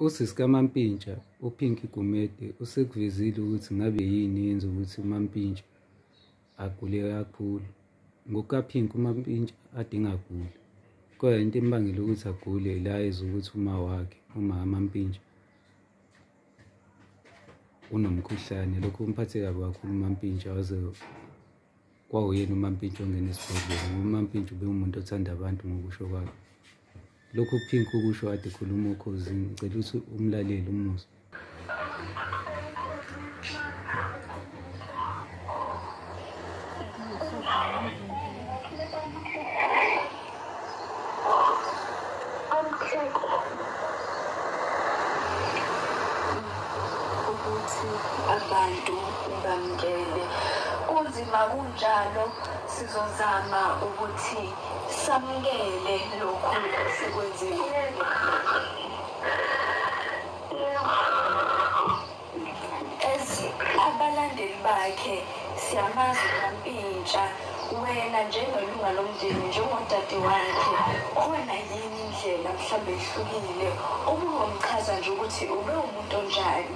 Usisi kaMampintsha uPinky Gumede usekuvezile ukuthi ngabe yini yenza ukuthi uMampintsha agule kakhulu. NgokukaPinky uMampintsha ade engaguli kodwa into embangela ukuthi agule ila ezwa ukuthi uma wakhe umama Mampintsha unomkhuhlane lokho kumphathe kabi kakhulu uMampintsha waze kwawuyena umampintsha ongena esibhedlela ngoba umampintsha ubewumuntu othanda abantu ngokusho kwakhe lokhu phinki ukusho ade khuluma okhozini ngicela ukuthi umlaleli umusa abantu bamkele kunzima kunjalo sizozama ukuthi samukele lokhu sikwenzile As abalandeli bakhe siyamazi kampintsha wena njengelunga lomndeni njengodade wakhe khona yini indlela mhlawumbe ehlukile ubungomchaza nje ukuthi ube umuntu onjani